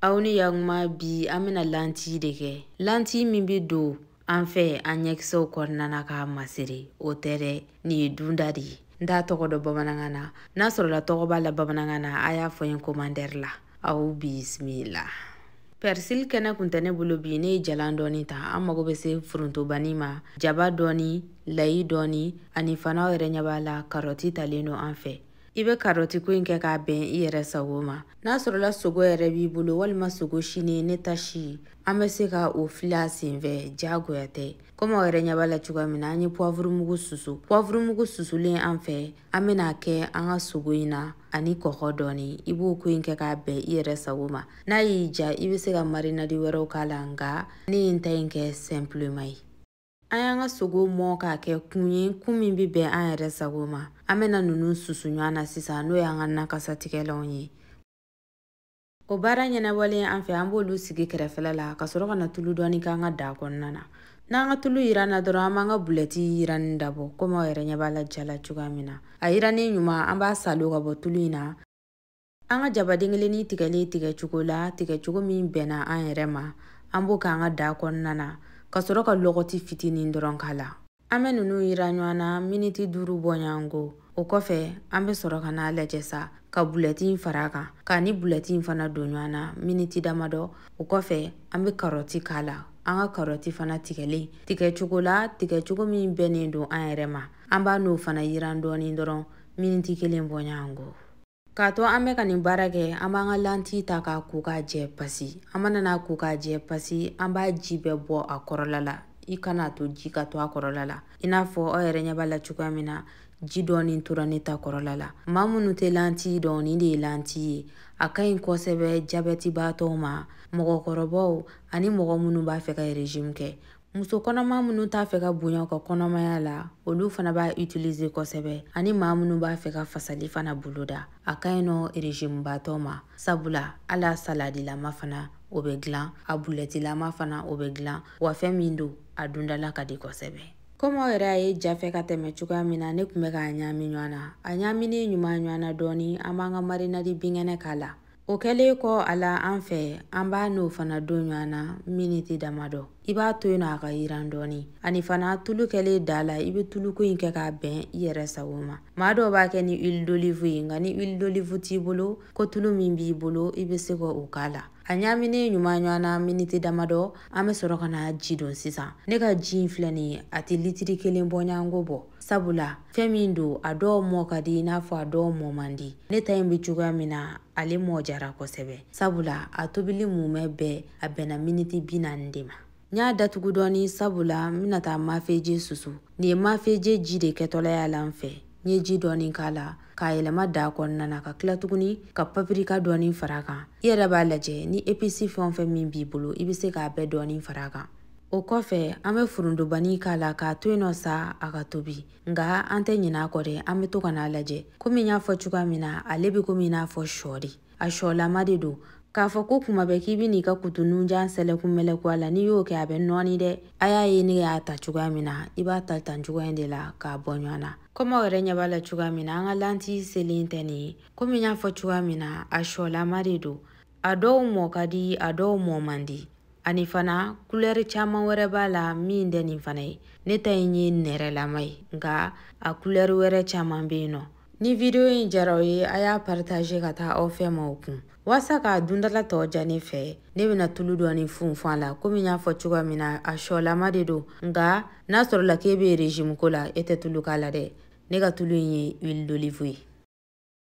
aw ni yakuma bi an bɛna lanti de kɛ lanti min bɛ don an fɛ an ɲɛkisɛw kɔnɔna na k'a masiri o tɛ dɛ nin ye dunta de ye n t'a tɔgɔ dɔn bamanankan na n'a sɔrɔla tɔgɔ b'a la bamanankan na a y'a fɔ n ye komantɛri la aw bisimila pɛrisili kɛnɛ kun tɛ ne bolo bi ne ye jalan dɔɔni ta an mago bɛ se forontobani ma jaba dɔɔni layi dɔɔni ani fana aw yɛrɛ ɲɛ b'a la karɔti talen don an fɛ i bɛ karɔti ko in kɛ k'a bɛn i yɛrɛ sago ma n'a sɔrɔla sogo yɛrɛ b'i bolo walima sogo silen ne ta si an bɛ se ka o fili a senfɛ jagoya tɛ komi aw yɛrɛ ɲɛ b'a la cogoya min na an ye puwavurumugu susu puwavurumugu susulen an fɛ an bɛna a kɛ an ka sogo in na ani kɔgɔ dɔɔni i b'o ko in kɛ k'a bɛn i yɛrɛ sago ma n'a y'i diya i bɛ se ka marinadi wɛrɛw k'a la nka ne ye n ta in kɛ sɛnpilema ye an y'an ka sogo mɔ k'a kɛ kun ye kun min bɛ bɛn an yɛrɛ sago ma an bɛna ninnu susu ɲɔgɔn na sisan n'o y'an ka nakasatigɛlanw ye o baara ɲɛnabɔlen an fɛ an b'olu sigi kɛrɛfɛla la ka sɔrɔ ka na tulu dɔɔni k'an ka daa kɔnɔna na n'an ka tulu yiranna dɔrɔn an b'an ka bulɛti yiranni dabɔ komi aw yɛrɛ ɲɛ b'a la ja la cogoya min na a yirannen ɲuman an b'a saalo ka bɔ tulu in na an ka jabaden kelennin tigɛlen tigɛcogo la tigɛcogo min bɛnna an yɛrɛ ma an b'o k'an ka daa kɔnɔna na ka sɔrɔ ka lɔgɔti fitinin dɔrɔn k'a la an bɛ ninnu yiran ɲɔgɔn na miniti duuru bɔɲɔgɔnko o kɔfɛ an bɛ sɔrɔ ka n'a lajɛ sa ka bulɛti in fara a kan k'a ni bulɛti in fana don ɲɔgɔn na miniti damadɔ o kɔfɛ an bɛ karɔti k'a la an ka karɔti fana tigɛlen tigɛcogo la tigɛcogo min bɛnnen don an yɛrɛ ma an b'a n'o fana yiran dɔɔnin dɔrɔn miniti kelen bɔɲɔgɔnko K'a to an bɛ ka nin baara kɛ an b'an ka lanti ta k'a ko k'a jɛ pasi an mana n'a ko k'a jɛ pasi an b'a ji bɛɛ bɔ a kɔrɔla la i kana to ji ka to a kɔrɔla la i n'a fɔ aw yɛrɛ ɲɛ b'a la cogoya min na ji dɔɔni tora ne ta kɔrɔla la maa minnu tɛ lanti dɔn nin de ye lanti ye a ka ɲi kosɛbɛ jabɛtibaatɔw ma mɔgɔkɔrɔbaw ani mɔgɔ minnu b'a fɛ ka rezimu kɛ muso kɔnɔma minnu t'a fɛ ka bonya u ka kɔnɔmaya la olu fana b'a itilize kosɛbɛ ani maa minnu b'a fɛ ka fasali fana boloda a ka ɲi nɔ rezimubaatɔ ma sabula hal'a saladilama fana o bɛ dilan a bulɛtilama fana o bɛ dilan wa fɛn min don a duntɔla ka di kosɛbɛ komi aw yɛrɛ y'a ye ja fɛ ka tɛmɛ cogoya min na ne tun bɛ k'a ɲaami ɲɔgɔn na a ɲaaminen ɲuman ɲɔgɔn na dɔɔni an b'an ka marinadi binkɛnɛ k'a la o kɛlen kɔ a la an fɛ an b'a n'o fana don ɲɔgɔn na miniti damadɔ i b'a to yen nɔ a ka yiran dɔɔni ani fana tulu kɛlen daa la i bɛ tuluko in kɛ k'a bɛn i yɛrɛ sago ma maa dɔw b'a kɛ ni huile d'olive ye nka ni huile d'olive t'i bolo ko tulu min b'i bolo i bɛ se ka o k'a la a ɲaaminen ɲuman ɲɔgɔn na miniti damadɔ an bɛ sɔrɔ ka na ji don sisan ne ka ji in filɛ nin ye a tɛ litiri kelen bɔɲɔgɔnko bɔ sabula fɛn min don a dɔw mɔ ka di i n'a fɔ a dɔw mɔ man di ne ta in bɛ cogoya min na ale mɔ jara kosɛbɛ sabula a tobili mumɛ bɛɛ a bɛnna miniti bi naani de ma n y'a datugu dɔɔni sabula n bɛna taa mafeje susu nin ye mafeje ji de kɛtɔla y'a la n fɛ n ye ji dɔɔni k'a la k'a yɛlɛma da kɔnɔna na ka tila tuguni ka papirika dɔɔni fara a kan i yɛrɛ b'a lajɛ ni episi fɛn o fɛn min b'i bolo i bɛ se k'a bɛɛ dɔɔni fara a kan o kɔfɛ an bɛ forontobani k'a la k'a to yen nɔ sa a ka tobi nka an tɛ ɲinɛ a kɔ dɛ an bɛ to ka n'a lajɛ komi n y'a fɔ cogoya min na ale bɛ komi i n'a fɔ shɔ de a shɔlama de don k'a fɔ ko kuma bɛɛ k'i bɛ n'i ka kutu nunjan sɛlɛkun mɛlɛku a la n'i y'o kɛ a bɛ nɔɔni dɛ a y'a ye ne y'a ta cogoya min na i b'a ta tan cogoya in de la k'a bɔ ɲɔgɔn na komi aw yɛrɛ ɲɛ b'a la cogoya min na an ka lanti selen tɛ nin ye komi n y'a fɔ cogoya min na a shɔlama de don a dɔw mɔ ka di a dɔw mɔ man di ani fana kulɛri caman wɛrɛ b'a la min tɛ nin fana ye ne ta in ye nɛrɛlama ye nka a kulɛri wɛrɛ caman bɛ yen nɔ ni vidiyo in jara aw ye a y'a paritaze ka taa aw fɛ maaw kun waasa k'a dundala tɔ ja ne fɛ ne bɛna tulu dɔɔni funfun a la komi n y'a fɔ cogoya min na a sɔlama de don nka n'a sɔrɔla k'e bɛ rezimu ko la e tɛ tulu k'a la dɛ ne ka tulu in ye huile d'olive ye